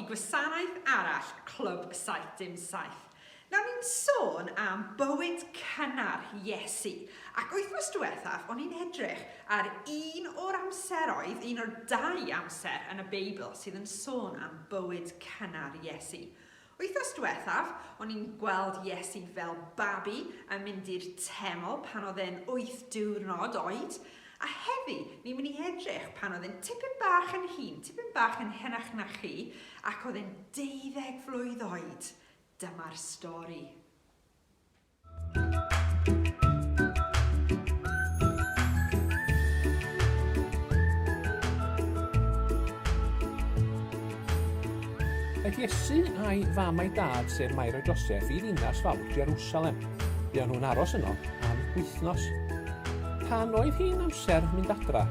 gwasanaeth arall Clwb 77. Nawr ni'n sôn am bywyd cynnar Iesu. Ac wythnos diwethaf, o'n i'n edrych ar un o'r amseroedd, un o'r dau amser yn y Beibl sydd yn sôn am bywyd cynnar Iesu. Wythnos diwethaf, o'n i'n gweld Iesu fel babi yn mynd i'r teml pan oedd e'n wyth diwrnod oed, a heddi ni'n mynd i edrych pan oedd e'n tipyn bach yn hŷn, tipyn bach yn henach na chi, ac oedd e'n deuddeg flwydd oed. Dyma'r stori. Aeth Iesu a'i fam a'i dad, sef Mair a Joseph, i ddinas fawr Jerusalem. Buon nhw'n aros yno am wythnos. Pan oedd hi'n amser mynd adra,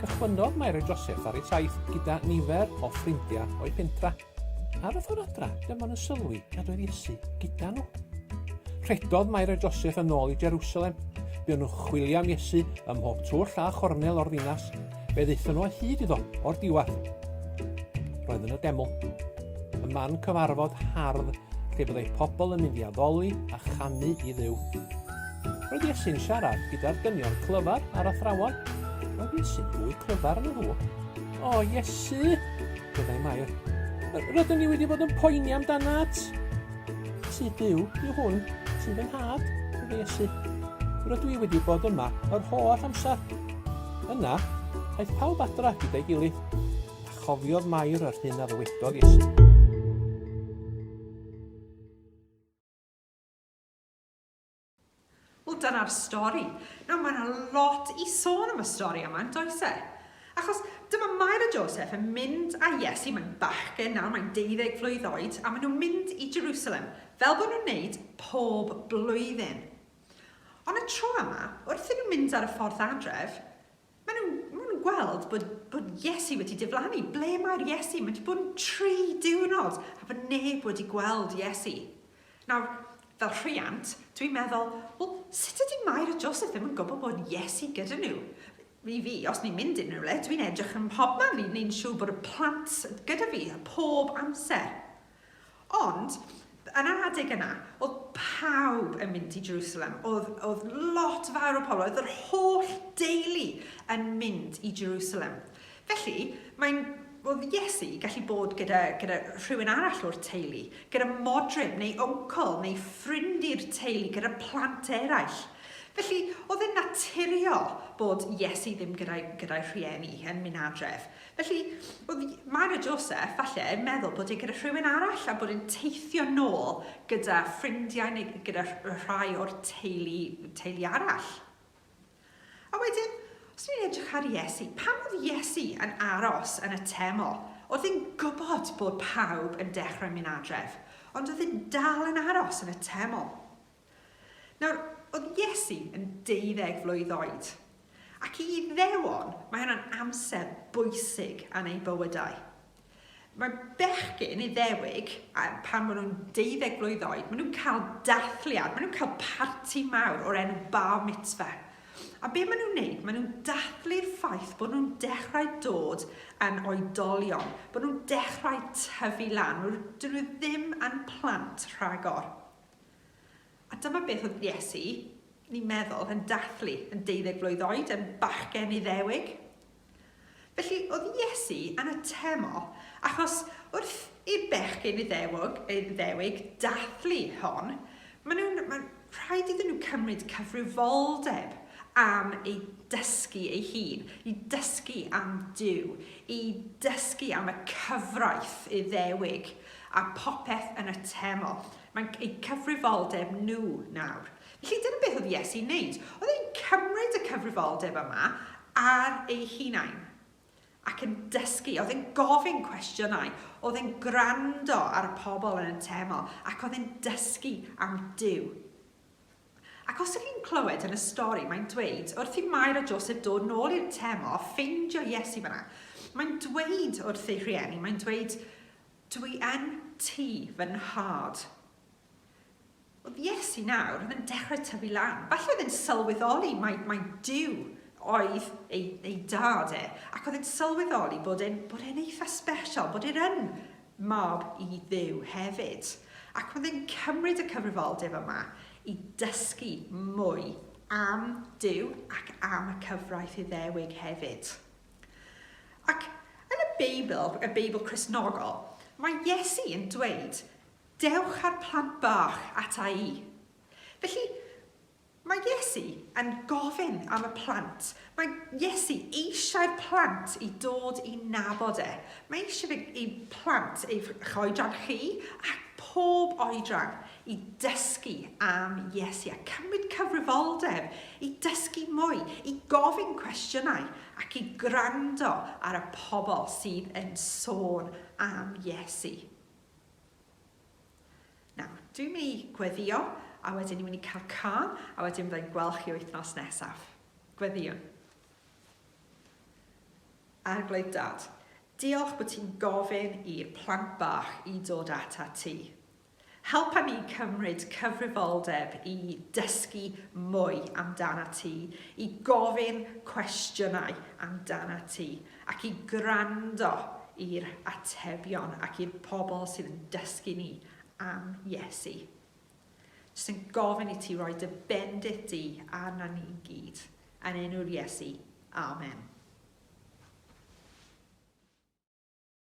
cychwynnodd Mair a Joseph ar eu taith gyda nifer o ffrindiau o'i pentra. Ar y ffordd adra, dyma nhw'n sylwi nad oedd Iesu gyda nhw. Rhedodd Mair a Joseph yn ôl i Jerusalem. Buon nhw'n chwilio am Iesu ym mhob twll a chornel o'r ddinas. Fe ddaethon nhw o hyd iddo o'r diwedd. Roedd yn y deml. Y man cyfarfod hardd lle byddai pobl yn mynd i addoli a chanu i ddew. Roedd Iesu'n siarad gyda'r dynion clyfar a'r athrawon. Roedd Iesu'n fwy clyfar yn y nhw. O, Iesu! Byddai Mair. Rydyn ni wedi bod yn poeni amdanat. Ti byw i hwn, ti'n fy nhad, byddai Iesu. Rydw i wedi bod yma yr holl amser. Yna, aeth pawb adra gyda'i gilydd, a chofiodd Mair yr hyn a ddywedodd Iesu. Wel, dyna'r stori. Nawr, mae yna lot i sôn am y stori yma, yn does e? Achos dyma Mair a Joseph yn mynd â Iesu, mae'n bachgen nawr, mae'n 12 flwydd oed, a maen nhw'n mynd i Jerusalem, fel bod nhw'n wneud pob blwyddyn. Ond y tro yma, wrth iddyn nhw mynd ar y ffordd adref, Maen nhw, maen nhw'n gweld bod, bod Iesu wedi diflannu. Ble mae'r Iesu? Mae wedi bod yn tri diwrnod a bod neb wedi gweld Iesu. Nawr, fel rhiant, dwi'n meddwl, wel, sut ydy Mair a Joseph ddim yn gwybod bod Iesu gyda nhw? I fi, os ni'n mynd unrhyw le, dwi'n edrych yn mhobman i wneud siŵr bod y plant gyda fi a pob amser. Ond, yn yr adeg yna, oedd pawb yn mynd i Jerusalem. Oedd, oedd lot fawr o pobl, oedd yr holl deulu yn mynd i Jerusalem. Felly, mae'n oedd Iesu gallu bod gyda, gyda rhywun arall o'r teulu, gyda modryb neu oncl neu ffrind i'r teulu, gyda plant eraill. Felly, oedd yn naturiol bod Iesu ddim gyda'i gyda rhieni yn mynd adref. Felly, oedd Myra Joseph, falle, yn meddwl bod e gyda rhywun arall a bod e'n teithio nôl gyda ffrindiau neu gyda rhai o'r teulu, teulu arall. A wedyn, os ni'n edrych ar Iesu, pam oedd Iesu yn aros yn y teml? Oedd e'n gwybod bod pawb yn dechrau mynd adref, ond oedd e'n dal yn aros yn y teml. Nawr, oedd Iesu yn deuddeg flwydd oed, ac i Iddewon mae hwnna'n amser bwysig yn eu bywydau. Mae bechgyn Iddewig, pan maen nhw'n deuddeg flwydd oed, maen nhw'n cael dathliad, maen nhw'n cael parti mawr o'r enw bar mitzvah. A be maen nhw'n wneud? Maen nhw'n dathlu'r ffaith bod nhw'n dechrau dod yn oedolion, bod nhw'n dechrau tyfu lan, dyn nhw ddim yn plant rhagor. A dyma beth oedd Iesu, ni'n meddwl, yn dathlu yn deuddeg mlwydd oed, yn bachgen Iddewig. Felly, oedd Iesu yn y temo, achos wrth i'r bechgyn Iddewig, Iddewig dathlu hon, maen nhw'n, maen, rhaid iddyn nhw cymryd cyfrifoldeb am ei dysgu ei hun, i dysgu am Dyw, i dysgu am y cyfraith Iddewig a popeth yn y teml. Mae'n eu cyfrifoldeb nhw nawr. Felly, dyna beth oedd Iesu'n wneud. Oedd e'n cymryd y cyfrifoldeb yma ar ei hunain ac yn dysgu. Oedd e'n gofyn cwestiynau, oedd e'n gwrando ar y pobl yn y teml ac oedd e'n dysgu am Duw. Ac os ydych chi'n clywed yn y stori, mae'n dweud wrth i Mair a Joseph dod nôl i'r teml a ffeindio Iesu fyna. Mae'n dweud wrth ei rhieni, mae'n dweud, Dwi yn ti fy nhad. Oedd Iesu nawr, oedd yn dechrau tyfu lan. Falle oedd e'n sylweddoli mai, mai Duw oedd ei, ei dad e, ac oedd e'n sylweddoli bod e'n, bod e'n eitha special, bod e'n yn mab i Dduw hefyd. Ac oedd e'n cymryd y cyfrifoldeb yma i dysgu mwy am Duw ac am y cyfraith Iddewig hefyd. Ac yn y Beibl, y Beibl Cristnogol, mae Iesu yn dweud, Dewch â'r plant bach ata i. Felly, mae Iesu yn gofyn am y plant. Mae Iesu eisiau'r plant i dod i nabod e. Mae eisiau ei plant, ei choedran chi ac pob oedran, i ddysgu am Iesu a cymryd cyfrifoldeb i ddysgu mwy, i gofyn cwestiynau ac i gwrando ar y pobl sydd yn sôn am Iesu. Nawr, dwi'n mynd i gweddio a wedyn ni'n mynd i cael can a wedyn byddai'n gweld chi wythnos nesaf. Gweddiwn. Arglwydd Dad, diolch bod ti'n gofyn i'r plant bach i dod ata ti. Helpa ni cymryd cyfrifoldeb i dysgu mwy amdanat ti, i gofyn cwestiynau amdanat ti, ac i gwrando i'r atebion ac i'r pobl sydd yn dysgu ni am Iesu. Jyst yn gofyn i ti roi dy bendith di arna ni gyd. Yn enw'r Iesu. Amen.